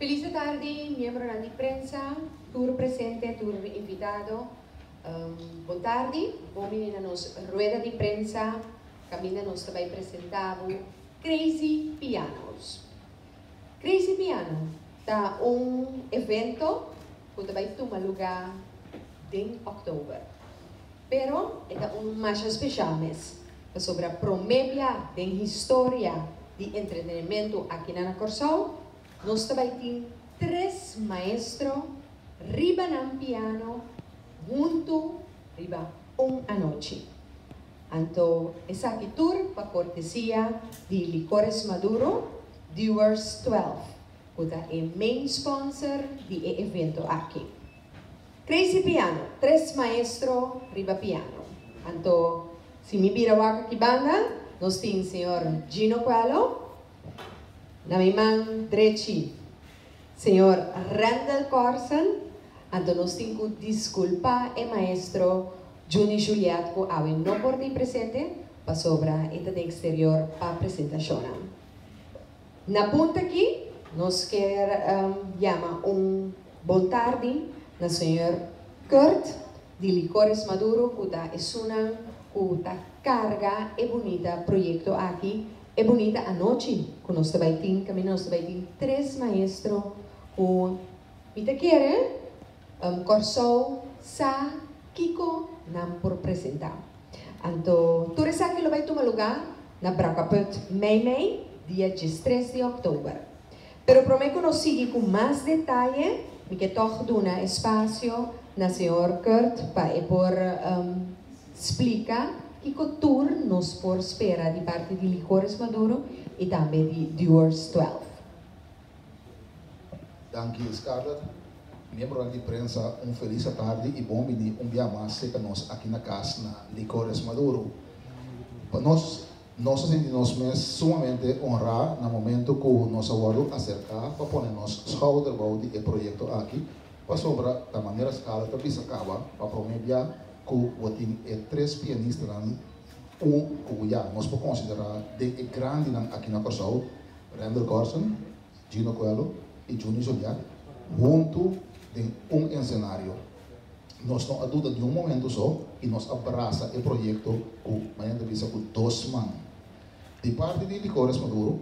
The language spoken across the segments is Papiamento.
Feliz di tardi miembronan di prensa, tur presente, tur invitado. Bon tardi, bo bini na nos rueda di prensa kaminda nos ta bai presenta bo Crazy Pianos. Crazy Piano ta un evento cu ta bay tuma luga den October. Pero e ta un masha special mes, pasobra prome bia den historia di entretenimento aki na na Corsou, nos ta bay tin tres maestro riba nan piano hunto riba un anochi. Anto esaki tur pa cortesia di Licores Maduro, Dewars 12. ku ta e main sponsor di e evento aki. Crazy Piano, tres maestro riba piano. Anto si mi bira wak aki banda, nos tin señor Gino Coelho, na mi man drechi señor Randall Corson, anto nos tin ku diskulpá e maestro Junie Juliet ku awe no por di presente pasobra e ta den eksterior pa presentashonnan. Na punto aki nos kier yama un bon tardi na Señor Kurt di Licores Maduro cu ta esunnan cu ta carga e bunita proyecto aki, e bunita anochi cu nos ta bay tin caminda nos ta bay tin tres maestro cu mi ta kier. Om Kòrsou sa kiko nan por presentá. Anto tur esaki lo bai tuma lugá na Brakaput, Meimei, dia diestres di òktober. Pero promé ku nos sigui ku mas detaye, mi ke tòg duna e spasio na señor Kurt pa e por splika kiko tur nos por spera di parti di Licores Maduro i tambe di Dewar's Twelve. Danki Scarlett. Miembronan di prensa un felis atardi i bon bini un bia mas serka nos aki na kas na Licores Maduro. Pa nos, nos a sinti nos mes sumamente onrá na momentu ku nos a wòrdu aserká pa pone nos schouder bou di e proyekto aki, pasobra ta manera Scarlett a bisa kaba pa promé bia ku bo tin e tres pianistanan un ku bo ya nos por konsiderá den e grandinan aki na Kòrsou. Render Gorson, Gino Coelho y Junie Joliat hunto den un encenario. Nos no a duda niun momento so y nos a brasa e proyecto cu manera ta bisa cu dos man. Di parti di Licores Maduro,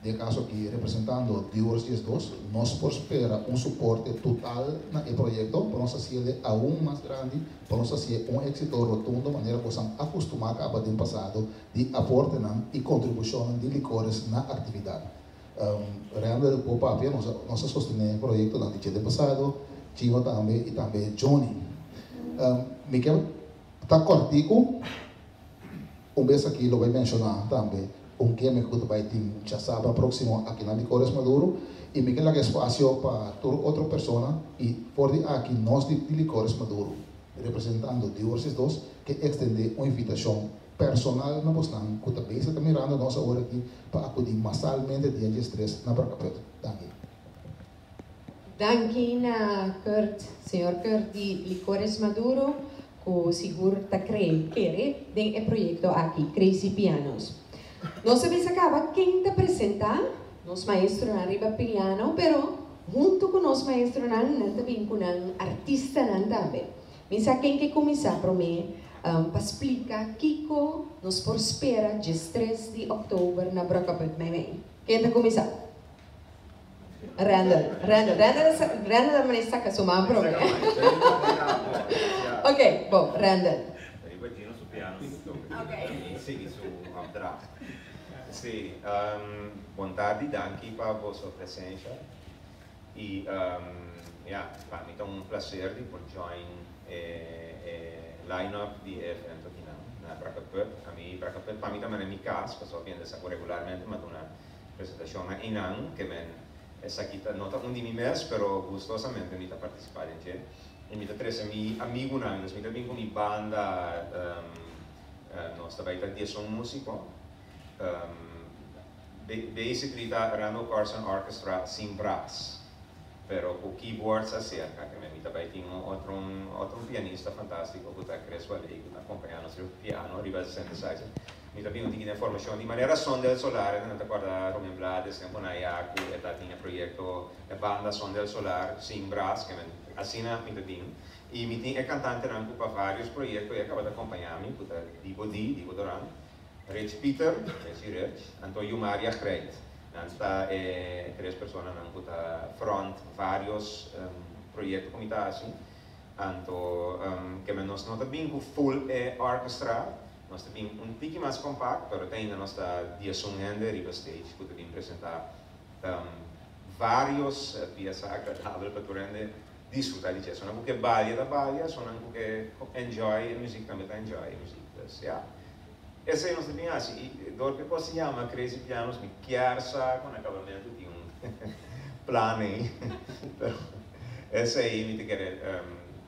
den e caso aki representando Dewars Diesdos, nos por spera un suporte total na e proyecto pa nos haci el e aun mas grandi, pa nos haci e un exito rotundo manera cu nos a acostuma caba den pasado di aportenan i kontribushonnan di Licores na aktividat. Render ku papia nos a sostené e proyektonan di Chete Pasado, Chiva tambe i tambe Johnny. Mi ke ta kòrtiku un bes aki lo bai menshoná tambe un gimmick ku ta bai tin Chasaba próksimo aki na Licores Maduro i mi ke laga espasio pa tur otro persona i for di aki nos di Licores Maduro representando Divorcies dos ke ekstendé un invitashon personal na bosnan cu ta besa ta mirando nos awor aki pa acudi masalmente dia dies tres na Barcapuerto. Danki. Danki na Kurt, señor Kurt di Licores Maduro cu sigur ta cree, kere, den e proyecto aki, Crazy Pianos. Nos a bisa caba ken ta presenta nos maestronan riba piano, pero hunto cu nos maestronan nan ta bin cu nan artistanan tambe. Mi sa ken ke kuminsá promé pa splika kiko nos por spera djes tres di òktober na Brokkaburg Meiwei. Ken ta kuminsá? Randall. Randall. Randall a sa, Randall a manera saka su man promé. Ok, bo, Randall. Riba Gino su piano mi toka di na mi sigui su òpdracht. Sí, bon tardi, danki pa boso presensha. Y ya, pa mi ta un placer di por join e line up di e evento akinan na Braca Pub. A mi Braca Pub pa mi ta manera mi cas, pasobra ku yende sa ku regularmente mi a duna presentacion na einan, ke men esaki ta no ta un di mi mes, pero gustosamente mi ta participa den dje. Y mi ta trece mi amigunan, entonces mi ta bin ku mi banda, nos ta bai ta dieson musico. Basically ta Randall Carson Orchestra sin braas, pero cu keyboards acerca, te mira ta bay tin un otro otro pianista fantastico cu ta Chris Waley cu ta acompaña nos riba piano, riba e synthesizer. Mi ta bini tin den formacion di manera Son del Solar, e nan ta acorda Ruben Blades tempo na ya cu e ta tin e proyecto, e banda Son del Solar sin braas, ke men, asina mi ta bini. Y mi tin e cantantenan cu pa varios proyecto e a caba ta acompañami, cu ta Dibo D, Dibo Doran, Rits Pieter, e si Rits, anto yu Maria Greit. Nan sta e tres personanan ku ta front varios proyekto ku mi ta hasi. Anto keme nos no ta bin ku full e orkestra, nos ta bin un tiki mas kompakt, pero ta ainda nos ta diesun hende riba stage ku ta bin presentá varios piesa agradabel pa tur hende disfrutá di dje. Esonan ku ke balia ta balia, esonan ku ke enjoy e muzik tambe ta enjoy e muzik. Pues ya, Esei nos ta bin hasi i dor ke kos yama Crazy Pianos mi kier sa ku na akabamentu tin un plan ei pero esei mi ta kere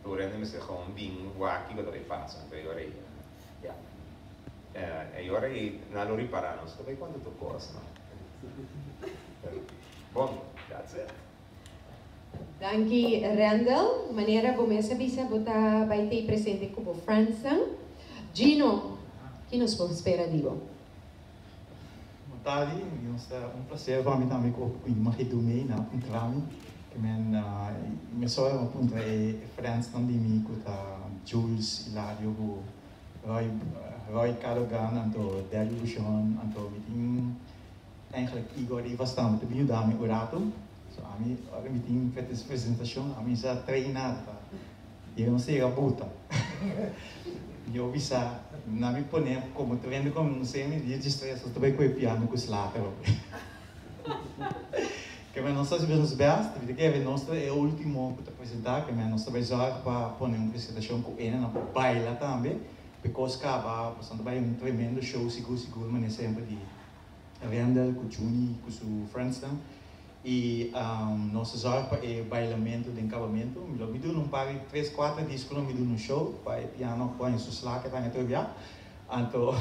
tur hende mester gewoon bin wak kiko ta bay pasa e ora ei ya e ora ei nan lo ripara nos ta bay konta tur kos no pero bon that's it. Danki Randall, manera bo mes a bisa bo ta bai tei presente ku bo friendsnan. Gino, ki nos por spera di bo? Mutadi, nos ta un plaser pa mi tambe ku mi magi Doe mei na puntrami ku men mesora lo puntra e friendsnan di mi ku ta Jules, Hilario ku Roy Roy Cado Brand anto Derby Bushon anto mi tin Eigenlijk Igor di Vastami ta bin yuda mi un ratu, so ami ora mi tin feters presentacion ami sa traina pa yega no sega buta. Mi a bisa na mi pone como ta vende con un semi dia dje stress lo ta bay coge piano cu slater ok. Kemey nos ta hasi nos best ta bisa kemey nos ta e ultimo cu ta presenta kemey nos ta bay zorg pa pone un presentacion cu ene nan por baila tambe, becos caba nos a bay un tremendo show sigur sigur mane semper di Rendel cu Junie cu su friendsnan y nos zorg pa e bailamento den cabamento. Mi lo mi duna un par di tres cuater disconan mi duna un show pa e piano a pone su slaken nan atrobiá. Anto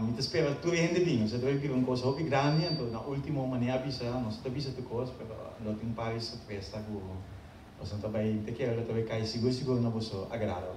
mi ta spera tur e hende bin. Nos a trobe bira un cos hopi grandi anto na ultimo manera a bisa nos a ta bisa tur cos pero lo tin un par di sorpresa cu boso no ta bay. Mi ta kere lo ta bay cay sigur sigur na boso agrado.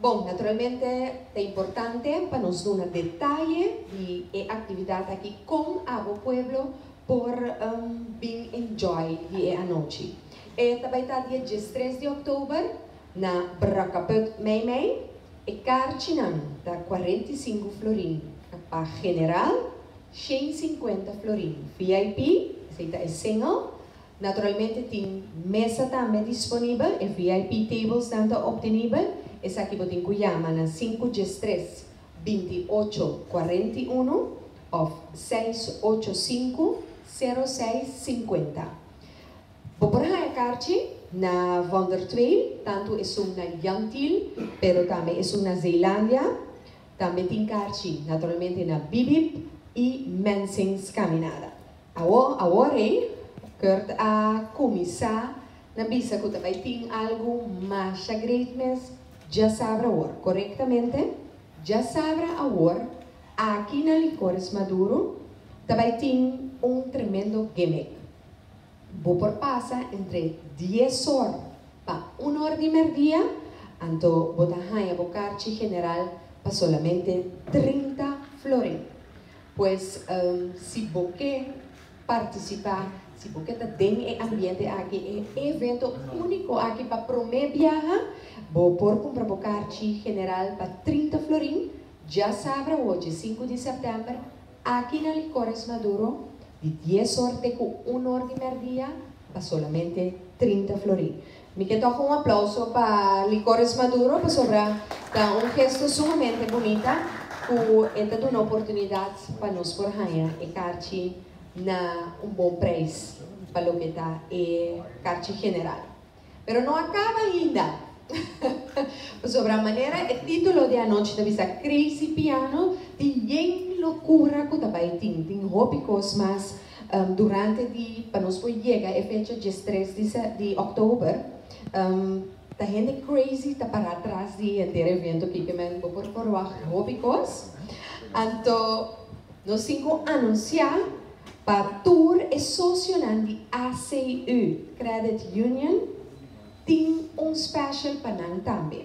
Bon, naturalmente ta importante pa nos duna detaye di e actividad aki con abo pueblo por bin enjoy di e anochi. E ta bay ta dia diestres di october na Brakaput Meimei. E karchinan ta cuarenta y cinco florin pa general, shen cincuenta florin vip, esey ta e single, Naturalmente tin mesa tambe disponibel, e VIP tablesnan ta optenibel, esaki bo tin ku yama na sinku djes tres, binti ocho, kuarenta i unu òf seis ocho sinku, sero seis sinkuenta. Bo por haña karchi na Von der Twehl, tantu esun na Jan Thiel, pero tambe esun na Zeelandia. Tambe tin karchi naturalmente na Bibib i Mensing's Caminada. Awo, awo rey, Kurt a kuminsá na bisa ku ta bai tin algu masha great mes, dja sabra awor, korektamente, dja sabra awor, aki na Licores Maduro ta bai tin un tremendo gimmick. Bo por pasa entre dies or pa un or di merdia, anto bo ta haña bo karchi general pa solamente trinta florin. Pues si bo ke partisipa, si bo ke ta den e ambiente aki, e evento úniko aki pa promé biaha, bo por kumpra bo karchi general pa trinta florin djasabra ochi sinku di sèptèmber aki na Licores Maduro di dies òrte ku un òr di mèrdia pa solamente trinta florin. Mi ke toka un aplauso pa Licores Maduro pasobra ta un gesto sumamente bunita ku e ta duna oportunidat pa nos por haña e karchi na un bon preis pa loke ta e karchi general. Pero no a kaba ainda pasobra manera e titulo di anochi ta bisa Crazy Piano tin yen lokura ku ta bai tin, tin hopi kos mas Durante di pa nos por yega e fecha djes tres di October ta hende crazy ta para tras di henter evento kiko men bo por forwacht hopi kos anto nos tin ku anuncia pa tur e socionan di ACU Credit Union tin un special pa nan tambe.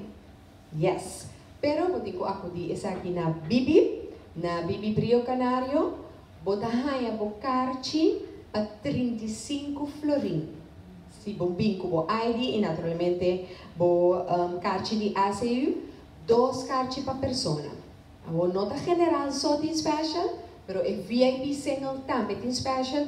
Yes. Pero bo tin cu acudi esaki na Bibi, na Bibi Brio Canario bo ta haya bo carchi pa trinta i sinku florin. Si bo bin cu bo ID y naturalmente bo carchi di ACU, dos carchi pa persona. Awor no ta general so tin special, pero e VIP single tambe tin special.